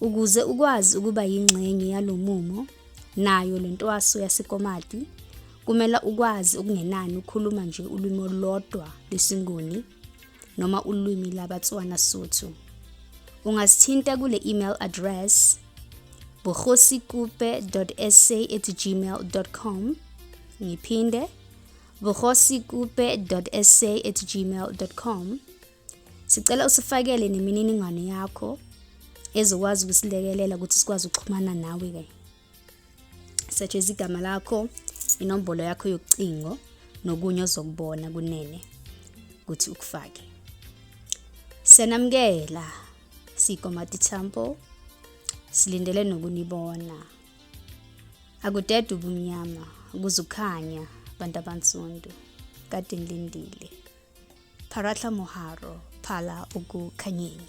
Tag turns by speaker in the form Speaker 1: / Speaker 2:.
Speaker 1: Ukuze ukwazi ukuba yingxenye yalo mumo nayo le ntwaso yasekomati kumele ukwazi ukungenani ukhuluma nje ulwimi olulodwa lwesinguni noma ulwimi labatswana sotho ungasithinta kule email address bohosikupe.sa@gmail.com ngiphinde bohosikupe.sa@gmail.com Sicela usifakele nemininingwane yakho ezokwazi ukusilekelela ukuthi sikwazi ukuxhumana nawe ke. Such as igama lakho, inombolo yakho yokucingo nokunye ozokubona kunene ukuthi ukufake. Senamukela siyikomati temple silindele nokunibona. Akudedwe ubumnyama kuzukhanya abantu abansundu kade ngilindile. Pharatla moharo, phala ukukhanyeni.